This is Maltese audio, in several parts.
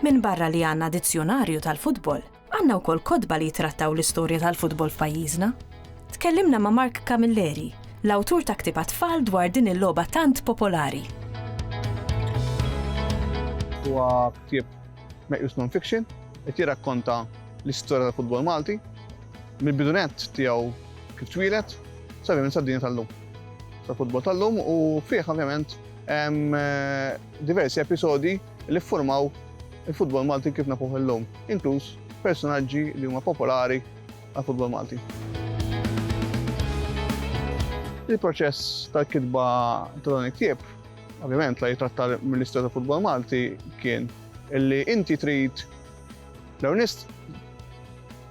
Minbarra li għandna dizzjonarju tal-futbol, għandna wkoll kotba li jitrattaw l-istorja tal-futbol f'pajjiżna. Tkellimna ma' Mark Camilleri, l-awtur ta' ktieb tfal dwar din il-logħba tant popolari. Huwa ktieb Meqjus non-fiction, qed jirrakkonta l-istorja tal-futbol Malti, mill-bidu nett tiegħu kif twieled, sa ovvjament sad-dinja tal-lum, tal-futbol tal-lum u fih ovvjament hemm diversi episodi li ffurmaw il-futbol Malti kif nafuh illum, inkluż personaġġi li huma popolari għall-futbol Malti. Il-proċess tal-kitba ta' dan il-ktieb Ovvjament la jitratta l-Ministru ta' Futbol Malti kien illi inti trid l-ewnist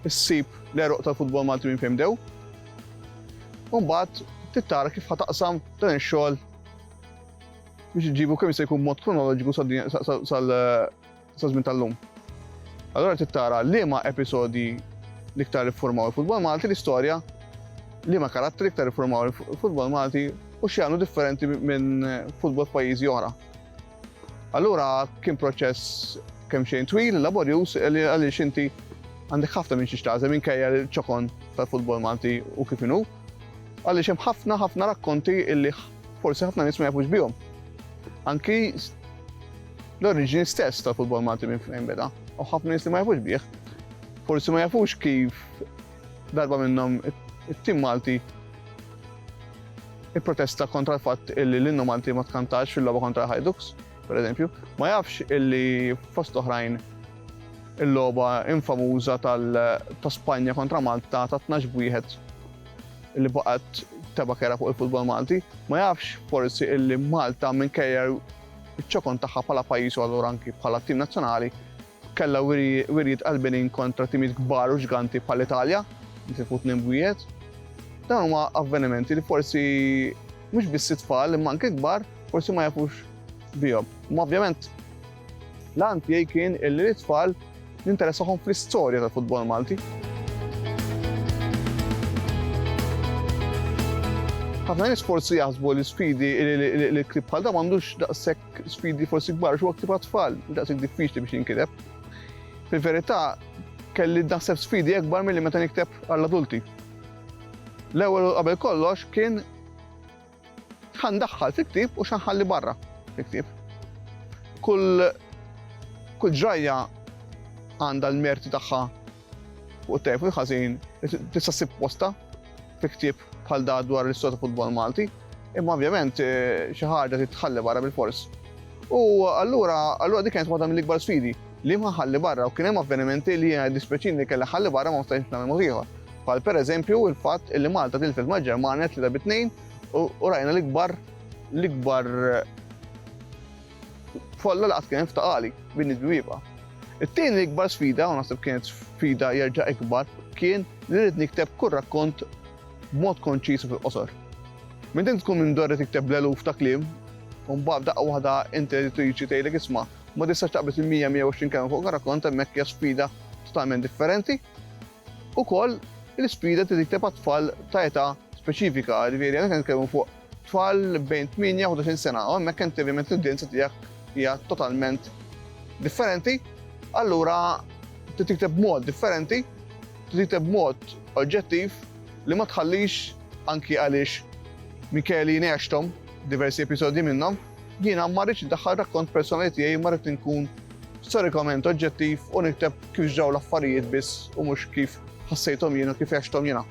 issib l-eruq ta' futbol Malti minn fejn bdew. Umbagħad tittara kif ħataqsam dan ix-xogħol biex iġibu kemm se jkun mod kronoloġiku sal sa żmien tal-lum. Allora trid tara liema episodji l-iktar iffurmaw il-futbol Malti l-istorja li ma karattri l-iktar iffurmaw il-futbol Malti u x'jagħmlu differenti minn futbol pajjiżi oħra. Allura kien proċess kemm xejn twil, laborjuż li għaliex inti għandek ħafna minn xi xtażem minkejja l-ċokon tal-futbol Malti u kif inhu. Għaliex hemm ħafna ħafna rakkonti illi forsi ħafna nies ma jafux bihom. Anki l-oriġini stess tal-futbol Malti minn fejn beda, u ħafna nies li ma jafux bih, forsi ma jafux kif darba minnhom it-tim Malti il-protesta kontra l-fatt illi l-innu Malti ma tkantax fil-logħba kontra Hajdux, per eżempju, ma jafx illi fost oħrajn il-logħba infamuża ta' Spanja kontra Malta ta' 12 wieħed li baqgħet teba kera fuq il-futbol Malti, ma jafx forsi illi Malta minkejja Iċ-ċokon tagħha bħala pajjiż u allura anki bħala tim nazzjonali kellha wirjiet qalbinin kontra timijiet kbar u ġganti bħall-Italja li tilfu tnejn b'wieħed. Dawn huma avvenimenti li forsi mhux biss it-tfal imma anke kbar forsi ma jafux bihom. Imma ovvjament l-għan tiegħi kien illi t-tfal ninteressahom fl-istorja tal-futbol Malti. ħafna nies forsi jaħsbu li sfidi li klib bħal da m'għandux daqshekk sfidi forsi kbar xi waqt tfal, daqshekk diffiċli biex jinkiteb. Fil-verità kelli naħseb sfidi akbar milli meta nikteb għall-adulti. L-ewwel qabel kollox kien X'ħa ndaħħal fi ktieb u x'ħa nħalli barra fi ktieb. Kull kull ġrajja għandha l-merti tagħha fuq it-tajb u l-ħażin tista' ssib posta fi ktieb bħal da dwar l-istorja ta' futbol Malti, imma ovvjament eh, xi ħaġa titħalli barra bil-fors. U allura allura dik kienet waħda mill-ikbar sfidi li ma ħalli barra u kien hemm avvenimenti li jiena dispeċini kelli ħalli barra ma stajtx nagħmel mod ieħor. Bħal pereżempju il-fatt li Malta tilfet mal-Ġermanja tlieta bi tnejn u rajna l-ikbar l-ikbar folla li qatt kien ftaqali bin id-dwieba. It-tieni l-ikbar sfida, u naħseb kienet sfida jerġa' ikbar, kien li rrid nikteb kull rakkont b'mod konċis fil-qosor. Minn din tkun minn dorri tikteb l-eluf ta' kliem, u mbagħad daqqa waħda inti editriċi tgħidlek isma' ma tistax taqbes il-100-120 kelma fuq rakkont hemmhekk hija sfida totalment differenti. Ukoll, l-isfida trid tikteb għat-tfal ta' età speċifika, jiġifieri hawnhekk qed nitkellmu fuq tfal bejn 8 u 11-il sena, u hemmhekk inti ovvjament l-udjenza tiegħek hija totalment differenti, allura trid tikteb b'mod differenti, trid tikteb b'mod oġġettiv li ma tħallix anki għaliex Michele jnegħxthom diversi episodji minnhom, Jiena ma rridx indaħħal rakkont personali tiegħi imma rrid inkun storikament oġġettiv u nikteb kif ġraw l-affarijiet biss u mhux kif ħassejthom jien u kif għexthom jiena.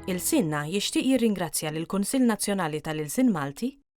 Il-Sinna jixtieq jirringrazzja lill-Kunsill Nazzjonali tal-Ilsien Malti,